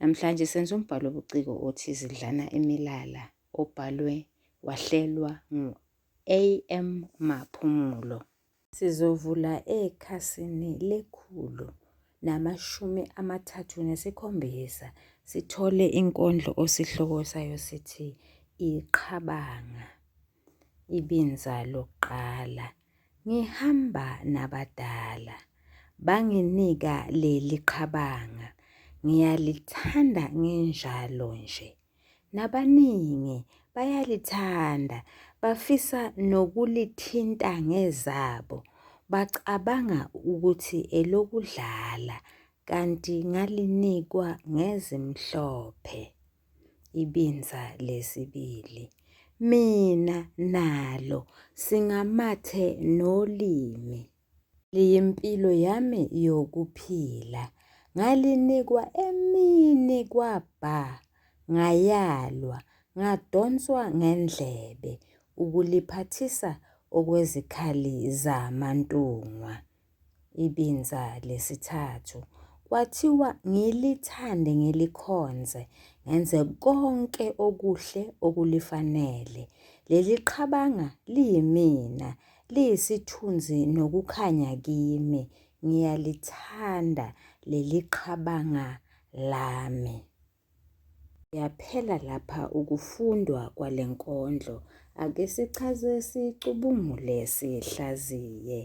Namhlanje senza umbhalo obuciko othi Zidlana Imilala obhalwe wahlelwa ngu-AM Maphumulo. Sizovula ekhasini lekhulu namashumi amathathu nesikhombisa sithole inkondlo osihloko sayo sithi Iqhabanga, ibinza lokuqala. Ngihamba nabadala banginika leli qhabanga ngiyalithanda nginjalo nje nabaningi bayalithanda bafisa nokulithinta ngezabo bacabanga ukuthi elokudlala kanti ngalinikwa ngezimhlophe. Ibinza lesibili. Mina nalo singamathe nolimi. Liyimpilo yami yokuphila. Ngalinikwa emini kwabha. Ngayalwa, ngadonswa ngendlebe ukuliphathisa okwezikhali zamantungwa. Ibinza lesithathu. Kwathiwa ngilithande ngilikhonze, ngenze konke okuhle okulifanele. Leli qhabanga liyimina, liyisithunzi nokukhanya kimi. Ngiyalithanda leli qhabanga lami. Yaphela lapha ukufundwa kwale nkondlo. Ake sichaze sicubungule sihlaziye.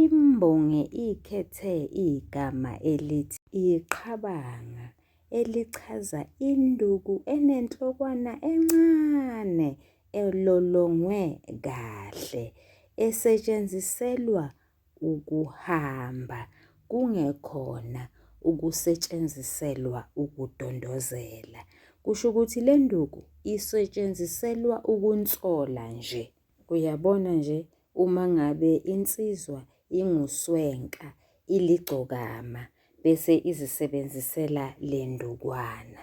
Imbongi ikhethe igama elithi iqhabanga elichaza induku enenhlokwana encane elolongwe kahle esetshenziselwa ukuhamba kungekhona ukusetshenziselwa ukudondozela. Kusho ukuthi le nduku isetshenziselwa ukunsola nje. Uyabona nje uma ngabe insizwa inguswenka iligcokama bese izisebenzisela le ndukwana.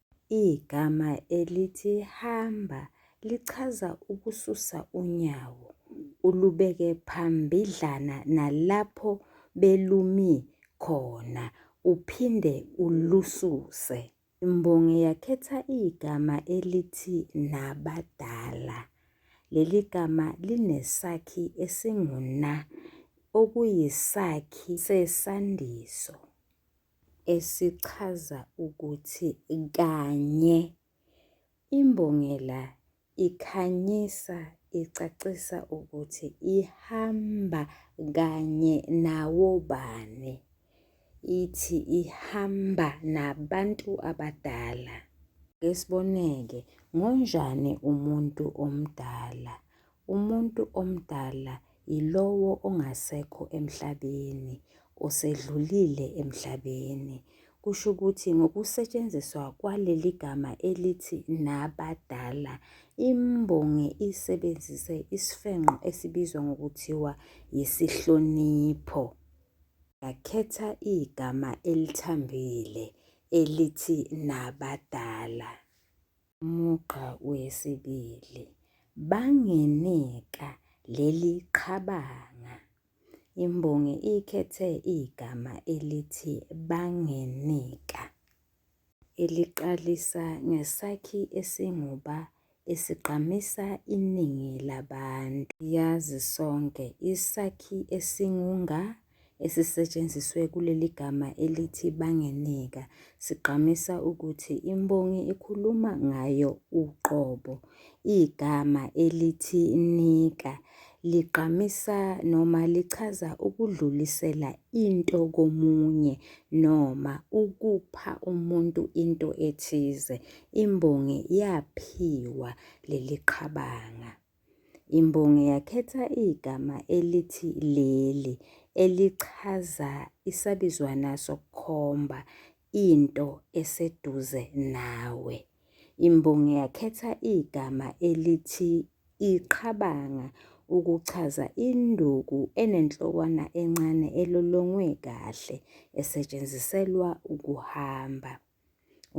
Igama elithi hamba lichaza ukususa unyawo ulubeke phambidlana nalapho belumi khona uphinde ulususe. Imbongi yakhetha igama elithi nabadala. Leli gama linesakhi esinguna okuyisakhi sesandiso. esichaza ukuthi kanye imbongela ikhanyisa icacisa ukuthi ihamba kanye nawobani ithi ihamba nabantu abadala. Ngesiboneke, ngonjani umuntu omdala Umuntu omdala yilowo ongasekho emhlabeni, osedlulile emhlabeni. Kusho ukuthi ngokusetshenziswa kwaleli gama elithi nabadala, imbongi isebenzise isifenqo esibizwa ngokuthiwa yisihlonipho. Yakhetha igama elithambile elithi nabadala. mugqa wesibili banginika leli qhabanga. Imbongi ikhethe igama elithi banginika eliqalisa ngesakhi esinguba esigqamisa iningi labantu. Yazi sonke isakhi esingunga esisetshenziswe kuleli gama elithi bangeneka sigqamisa ukuthi imbongi ikhuluma ngayo uqobo. Igama elithi nika ligqamisa noma lichaza ukudlulisela into komunye noma ukupha umuntu into ethize. Imbongi yaphiwa leli qhabanga. Imbongi yakhetha igama elithi leli elichaza isabizwana sokukhomba into eseduze nawe. Imbongi yakhetha igama elithi iqhabanga ukuchaza induku enenhlokwana encane elolongwe kahle esetshenziselwa ukuhamba.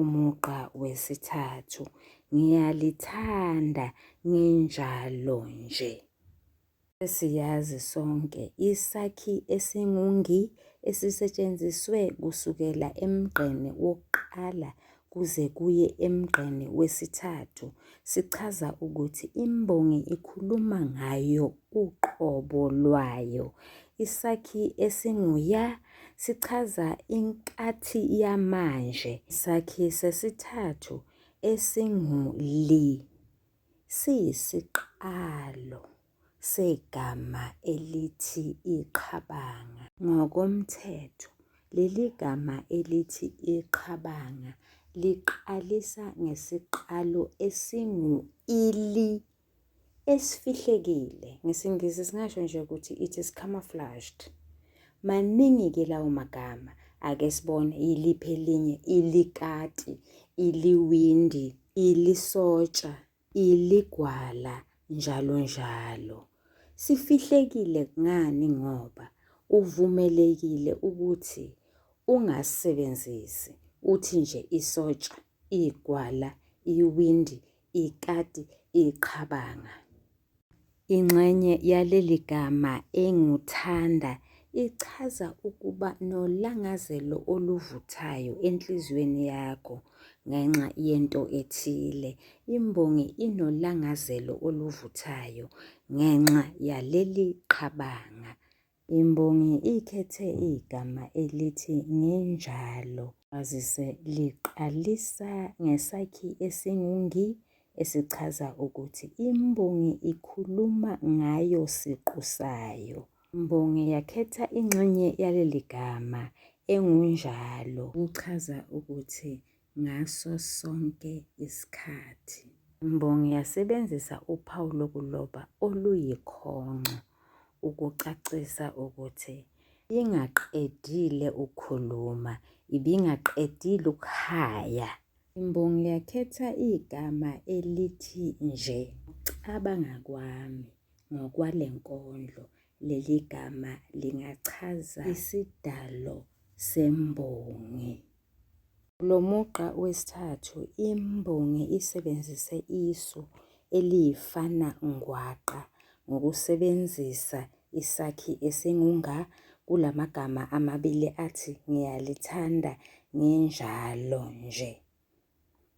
umugqa wesithathu ngiyalithanda nginjalo nje Siyazi sonke isakhi esingungi esisetshenziswe kusukela emgqeni wokuqala kuze kuye emgqeni wesithathu sichaza ukuthi imbongi ikhuluma ngayo uqobo lwayo. Isakhi esinguya sichaza inkathi yamanje. Isakhi sesithathu esingu-li siyisiqalo segama elithi iqhabanga. Ngokomthetho, leli gama elithi iqhabanga liqalisa ngesiqalo esingu-ili esifihlekile ngesiNgisi singasho nje ukuthi it is camouflaged maningi-ke lawo magama ake sibone yiliphi elinye ilikati iliwindi ilisotsha iligwala njalo njalo sifihlekile ngani ngoba uvumelekile ukuthi ungasebenzisi uthi nje isotsha igwala iwindi ikati iqhabanga. Ingxenye yaleli gama enguthanda ichaza ukuba nolangazelo oluvuthayo enhliziyweni yakho ngenxa yento ethile. Imbongi inolangazelo oluvuthayo ngenxa yaleli qhabanga. Imbongi ikhethe igama elithi ngenjalo. Kwazise liqalisa ngesakhi esingungi esichaza ukuthi imbongi ikhuluma ngayo siqu sayo. Imbongi yakhetha ingxenye yaleli gama engunjalo ukuchaza ukuthi ngaso sonke isikhathi. Imbongi yasebenzisa uphawu lokuloba oluyikhongco ukucacisa ukuthi ingaqedile ukukhuluma, ibingaqedile ukuhaya. Imbongi yakhetha igama elithi nje. Cabanga kwami ngokwale nkondlo, leli gama lingachaza isidalo sembongi. Kulo mugqa wesithathu, imbongi isebenzise isu eliyifana ngwaqa ngokusebenzisa isakhi esingunga kula magama amabili athi ngiyalithanda nginjalo nje.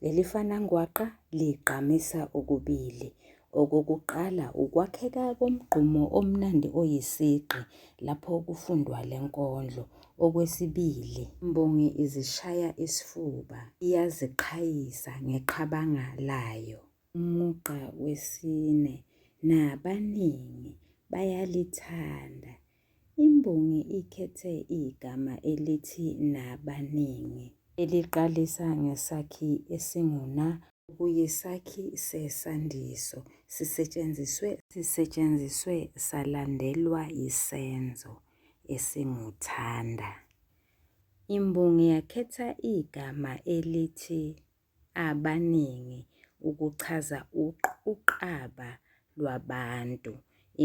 Leli fanangwaqa ligqamisa okubili. Okokuqala ukwakheka komgqumo omnandi oyisigqi lapho kufundwa le nkondlo. Okwesibili, imbongi izishaya isifuba, iyaziqhayisa ngeqhabanga layo. Umugqa wesine nabaningi bayalithanda Imbongi ikhethe igama elithi nabaningi. Eliqalisa ngesakhi esinguna. Okuyisakhi sesandiso. Sisetshenziswe. Sisetshenziswe salandelwa yisenzo esinguthanda. Imbongi yakhetha igama elithi. abaningi ukuchaza uqaba lwabantu.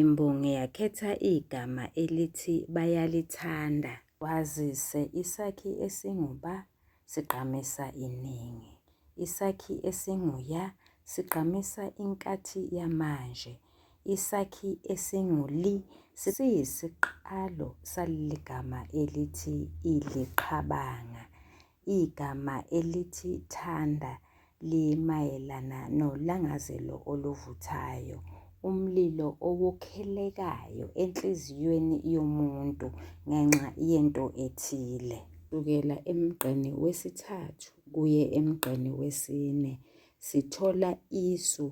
Imbongi yakhetha igama elithi bayalithanda. Kwazise isakhi esinguba sigqamisa iningi. Isakhi esinguya sigqamisa inkathi yamanje. Isakhi esinguli siyisiqalo saligama elithi iliqhabanga. Igama elithi thanda limayelana nolangazelo oluvuthayo, umlilo owokhelekayo enhliziyweni yomuntu ngenxa yento ethile. Kusukela emgqeni wesithathu kuye emgqeni wesine sithola isu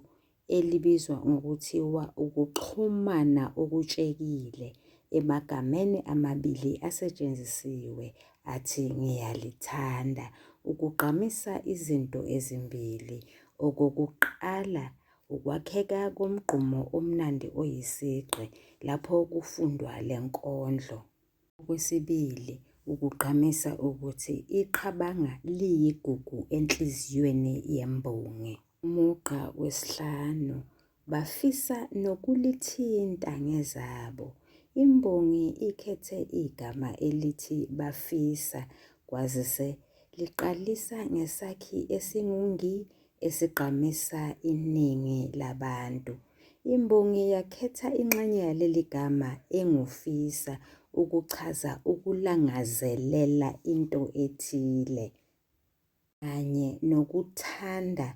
elibizwa ngokuthiwa ukuxhumana okutshekile emagameni amabili asetshenzisiwe athi ngiyalithanda ukugqamisa izinto ezimbili okokuqala ukwakheka komgqumo omnandi oyisigqi lapho kufundwa le nkondlo. Okwesibili, ukugqamisa ukuthi iqhabanga liyigugu enhliziyweni yembongi. Umugqa wesihlanu bafisa nokulithinta ngezabo. Imbongi ikhethe igama elithi bafisa kwazise liqalisa ngesakhi esingungi esigqamisa iningi labantu. Imbongi yakhetha inxenye yaleli gama engufisa ukuchaza ukulangazelela into ethile. kanye nokuthanda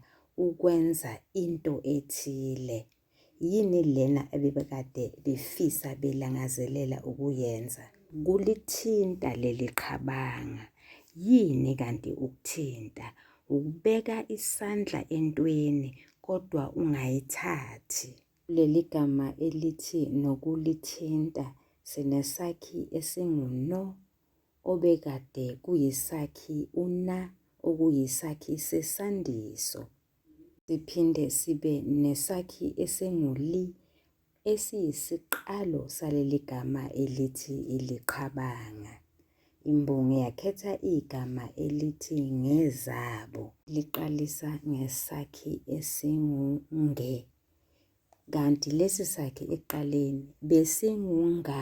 ukwenza into ethile. Yini lena ebebekade befisa belangazelela ukuyenza? Kulithinta leli qhabanga. Yini kanti ukuthinta? Ukubeka isandla entweni kodwa ungayithathi. Leli gama elithi nokulithinta sinesakhi esinguno obekade kuyisakhi una okuyisakhi sesandiso, siphinde sibe nesakhi esingu-li esiyisiqalo saleli gama elithi iliqhabanga. Imbongi yakhetha igama elithi ngezabo, liqalisa ngesakhi esingu-nge, kanti lesi sakhi ekuqaleni besingu-nga.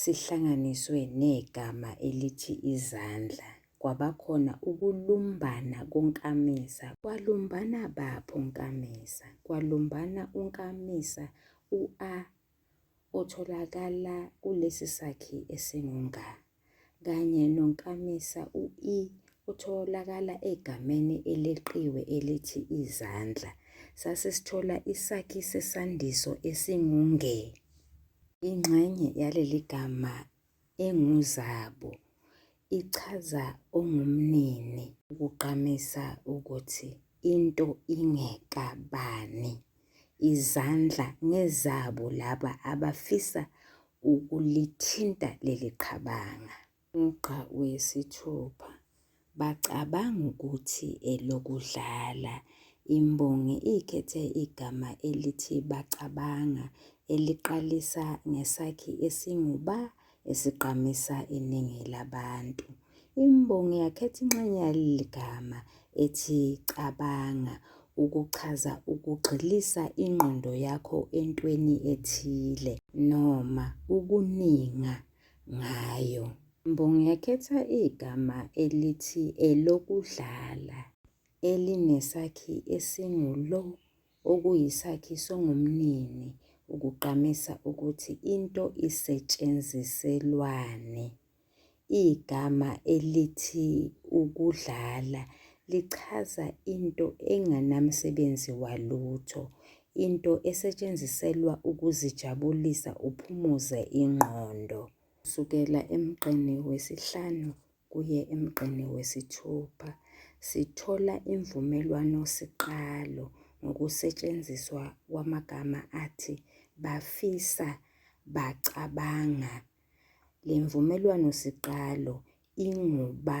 sihlanganiswe negama elithi izandla kwabakhona ukulumbana konkamisa kwalumbana baphi onkamisa kwalumbana unkamisa u-a otholakala kulesi sakhi esingunga kanye nonkamisa u-i otholakala egameni eleqiwe elithi izandla sasisithola isakhi sesandiso esingunge Ingxenye yaleli gama enguZabu ichaza ongumnini ukugqamisa ukuthi into ingekabani. Izandla ngezabo laba abafisa ukulithinta leli qhabanga. Umugqa wesithupha bacabanga ukuthi elokudlala. Imbongi ikhethe igama elithi bacabanga eliqalisa ngesakhi esinguba esigqamisa iningi labantu. Imbongi yakhetha inxenye yaleli gama ethi cabanga ukuchaza ukugxilisa ingqondo yakho entweni ethile noma ukuninga ngayo. Ngingakhetha igama elithi elokudlala elinesakhi esingulo okuyisakhi songumnini ukugqamisa ukuthi into isetshenziselwani. Igama elithi ukudlala lichaza into enganamsebenzi walutho, Into esetshenziselwa ukuzijabulisa uphumuze ingqondo. Kusukela emgqeni wesihlanu kuye emgqeni wesithupha sithola imvumelwano siqalo ngokusetshenziswa kwamagama athi bafisa, bacabanga. Le mvumelwano siqalo inguba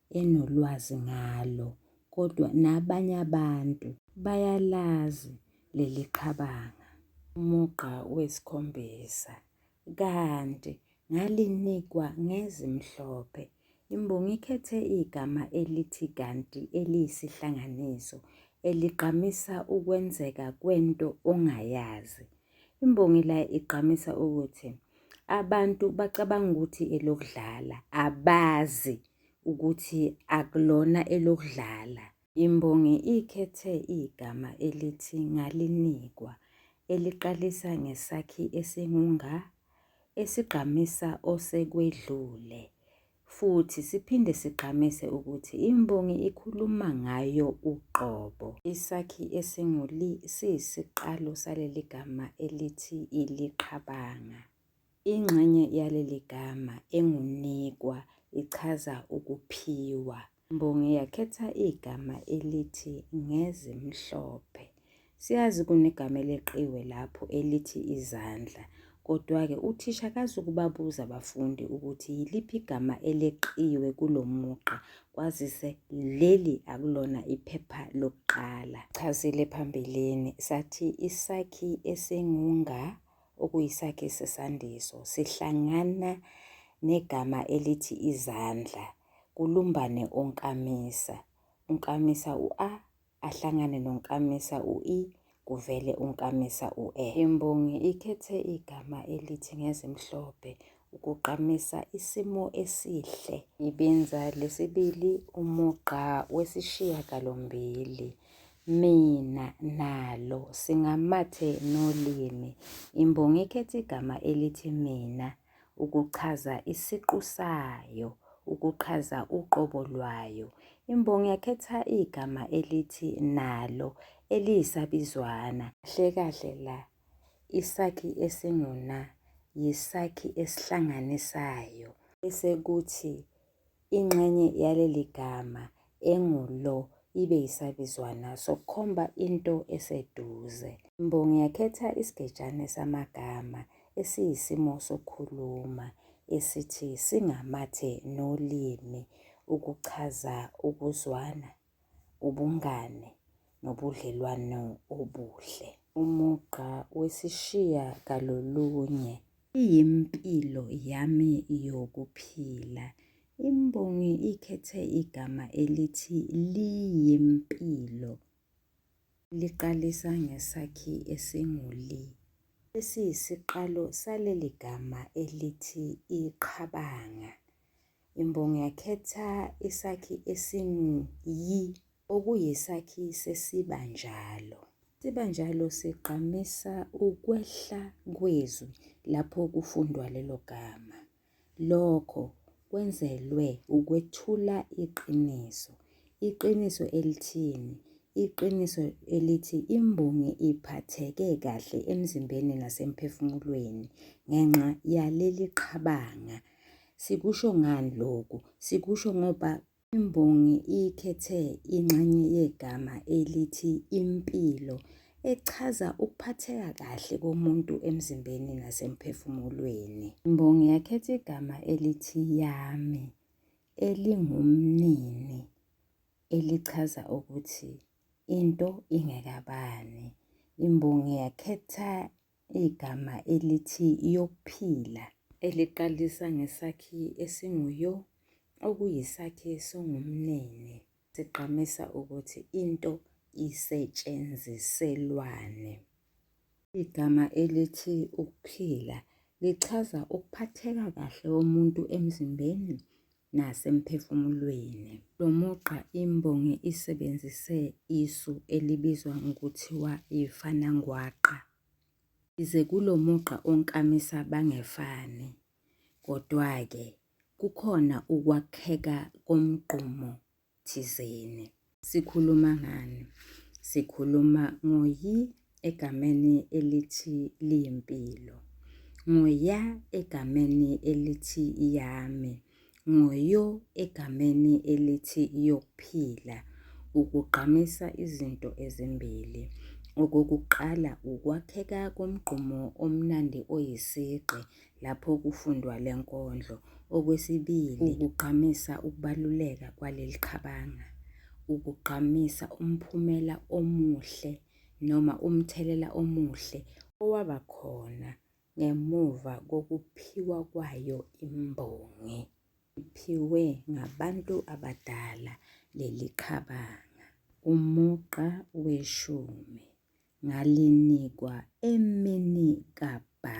enolwazi ngalo kodwa nabanye abantu bayalazi leli qhabanga. Umugqa wesikhombisa kanti ngalinikwa ngezimhlophe. Imbongi ikhethe igama elithi kanti eliyisihlanganiso eligqamisa ukwenzeka kwento ongayazi. Imbongi la igqamisa ukuthi abantu bacabanga ukuthi elokudlala abazi ukuthi akulona elokudlala. Imbongi ikhethe igama elithi ngalinikwa eliqalisa ngesakhi esingunga esigqamisa osekwedlule Futhi siphinde sigqamise ukuthi imbongi ikhuluma ngayo uqobo. Isakhi esingu-li siyisiqalo saleli gama elithi iliqhabanga. Ingxenye yaleli gama engunikwa ichaza ukuphiwa. Mbongi yakhetha igama elithi ngezimhlophe. Siyazi kunegama eleqiwe lapho elithi izandla. Kodwa-ke uthisha akazukubabuza abafundi ukuthi yiliphi igama eleqiwe kulo mugqa kwazise leli akulona iphepha lokuqala. Chazile phambilini sathi isakhi esingunga okuyisakhi sesandiso sihlangana negama elithi izandla kulumbane onkamisa. Unkamisa u-a, ahlangane nonkamisa u-i, kuvele unkamisa u-e. Imbongi ikhethe igama elithi ngezimhlophe ukuqamisa isimo esihle. Ibinza lesibili umugqa wesishiyagalombili. Mina nalo singamathe nolimi. Imbongi ikhethe igama elithi mina. ukuchaza isiqu sayo, ukuchaza uqobo lwayo. Imbongi yakhetha igama elithi nalo eliyisabizwana. Kahle kahle la isakhi esinguna yisakhi esihlanganisayo bese kuthi Ingxenye yaleli gama engu-lo ibe yisabizwana sokukhomba into eseduze. Imbongi yakhetha isigejane samagama esiyisimo sokukhuluma esithi singamathe nolimi ukuchaza ukuzwana. ubungane nobudlelwano obuhle. Umugqa wesishiya kalolunye. Iyimpilo yami yokuphila. Imbongi ikhethe igama elithi liyimpilo. Liqalisa ngesakhi esinguli. Lesi yisiqalo saleli gama elithi iqhabanga. Imbongi yakhetha isakhi esingu-yi okuyisakhi sesibanjalo. Sibanjalo sigqamisa ukwehla kwezwi lapho kufundwa lelo gama. Lokho kwenzelwe ukwethula iqiniso. Iqiniso elithini? Iqiniso elithi imbongi iphatheke kahle emzimbeni nasemphefumulweni ngenxa yaleli qhabanga Sikusho ngani lokhu? Sikusho ngoba imbongi ikhethe ingxenye yegama elithi impilo echaza ukuphatheka kahle komuntu emzimbeni nasemphefumulweni. Imbongi yakhetha igama elithi yami elingumnini elichaza ukuthi into ingekabani. Imbongi yakhetha Igama elithi yokuphila eliqalisa ngesakhi esinguyo okuyisakhi songumnene sigqamisa ukuthi into isetshenziselwane. Igama elithi ukuphila lichaza ukuphatheka kahle komuntu emzimbeni nasemphefumulweni. Lo mugqa imbongi isebenzise isu elibizwa ngokuthiwa yifanangwaqa. Yize kulo mugqa onkamisa bangefani, kodwa-ke kukhona ukwakheka komgqumo thizeni. Sikhuluma ngani? Sikhuluma ngoyi egameni elithi liyimpilo, ngoya egameni elithi yami, ngoyo egameni elithi yokuphila. Ukugqamisa izinto ezimbili. Okokuqala ukwakheka komgqumo omnandi oyisigqi lapho kufundwa le nkondlo. Okwesibili, ukugqamisa ukubaluleka kwaleli qhabanga, ukugqamisa umphumela omuhle noma umthelela omuhle owaba khona ngemuva kokuphiwa kwayo imbongi. Iphiwe ngabantu abadala leli qhabanga. Umugqa weshumi ngalinikwa emini kabha.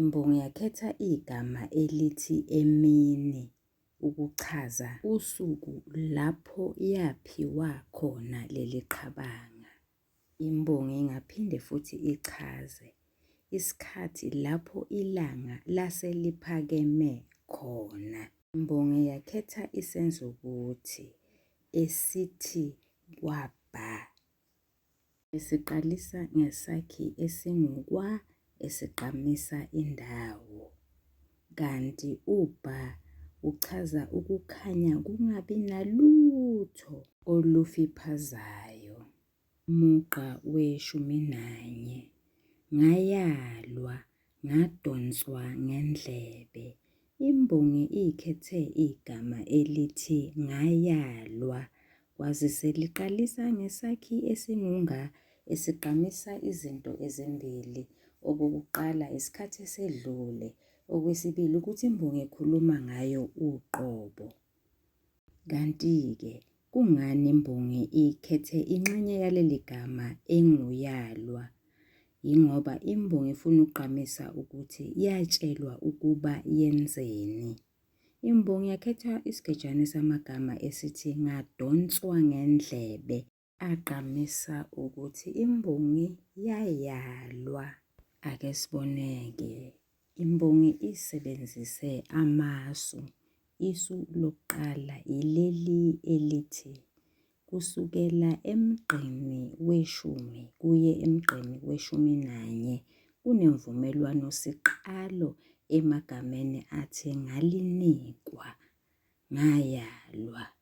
Imbongi yakhetha igama elithi emini ukuchaza usuku lapho yaphiwa khona leli qhabanga. Imbongi ingaphinde futhi ichaze isikhathi lapho ilanga lase liphakeme khona. Imbongi yakhetha isenzo ukuthi esithi kwabha. Esiqalisa ngesakhi esingukwa esigqamisa indawo, kanti ubha uchaza ukukhanya kungabi nalutho olufiphazayo. Mugqa weshumi nanye. Ngayalwa Ngadonswa ngendlebe. Imbongi ikhethe igama elithi ngayalwa kwazise liqalisa ngesakhi esingunga esigqamisa izinto ezimbili. Okokuqala isikhathi esedlule, okwesibili ukuthi imbongi ekhuluma ngayo uqobo. Kanti-ke kungani imbongi ikhethe inxenye yaleli gama enguyalwa? Yingoba imbongi ifuna ukugqamisa ukuthi yatshelwa ukuba yenzeni. Imbongi yakhetha isigejane samagama esithi ngadonswa ngendlebe. agqamisa ukuthi imbongi yayalwa. Ake siboneke imbongi isebenzise amasu. Isu lokuqala yileli elithi kusukela emgqeni weshumi kuye emgqeni weshumi nanye kunemvumelwano siqalo emagameni athi ngalinikwa ngayalwa.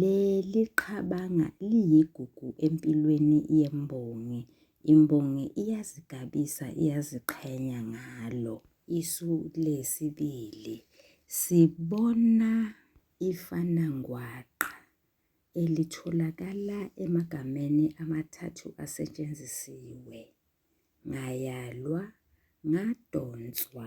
Leli qhabanga liyigugu empilweni yembongi. Imbongi iyazigabisa, iyaziqhenya ngalo. Isu lesibili sibona ifanangwaqa elitholakala emagameni amathathu asetshenzisiwe. Ngayalwa, ngadonswa,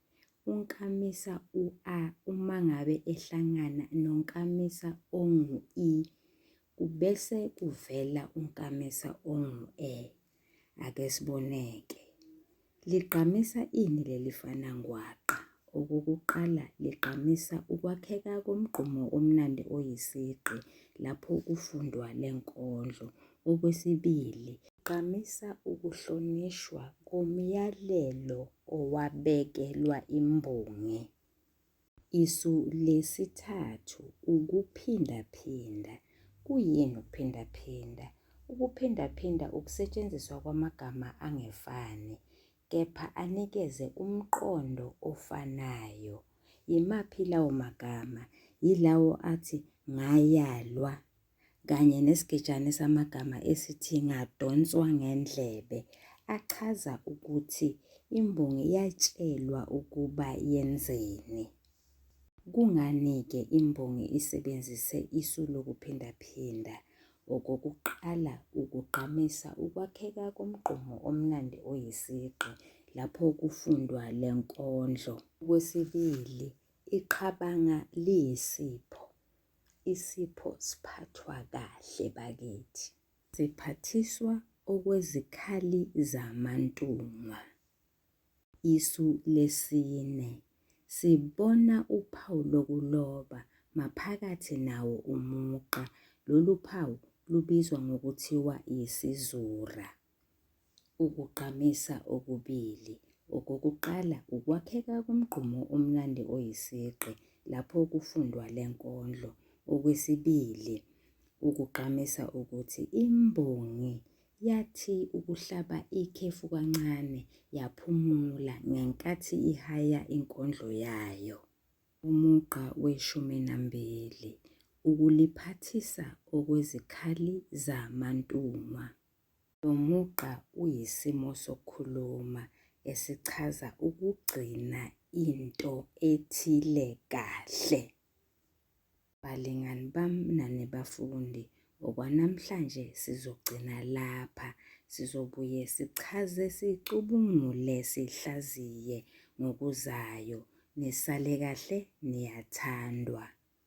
Unkamisa u-a uma ngabe ehlangana nonkamisa ongu-i, kubese kuvela unkamisa ongu-e. Ake siboneke. Ligqamisa ini leli fana ngwaqa? Okokuqala ligqamisa ukwakheka komgqumo omnandi oyisigqi lapho kufundwa le nkondlo. Okwesibili, gqamisa ukuhlonishwa komyalelo owabekelwa imbongi. Isu lesithathu ukuphindaphinda. Kuyini ukuphindaphinda? Ukuphindaphinda ukusetshenziswa kwamagama angefani kepha anikeze umqondo ofanayo. Yimaphi lawo magama? Yilawo athi ngayalwa, kanye nesigejane samagama esithi Ngadonswa Ngendlebe achaza ukuthi imbongi yatshelwa ukuba yenzeni. Kungani-ke imbongi isebenzise isu lokuphindaphinda? Okokuqala, ukugqamisa ukwakheka komgqumo omnandi oyisigqi lapho kufundwa le nkondlo. Okwesibili, iqhabanga liyisipho. Isipho siphathwa kahle bakithi. Siphathiswa okwezikhali zamantungwa. Isu lesine. Sibona uphawu lokuloba maphakathi nawo umugqa. Lolu phawu lubizwa ngokuthiwa yisizura. Ukugqamisa okubili. Okokuqala, ukwakheka komgqumo omnandi oyisigqi lapho kufundwa le nkondlo. Okwesibili, ukugqamisa ukuthi imbongi yathi ukuhlaba ikhefu kancane yaphumula ngenkathi ihaya inkondlo yayo. Umugqa weshumi nambili, ukuliphathisa okwezikhali zamantungwa. Lo mugqa uyisimo sokukhuluma esichaza ukugcina into ethile kahle. Balingani bam nani bafundi, okwanamhlanje sizogcina lapha. Sizobuye sichaze, sicubungule, sihlaziye ngokuzayo. Nisale kahle, niyathandwa.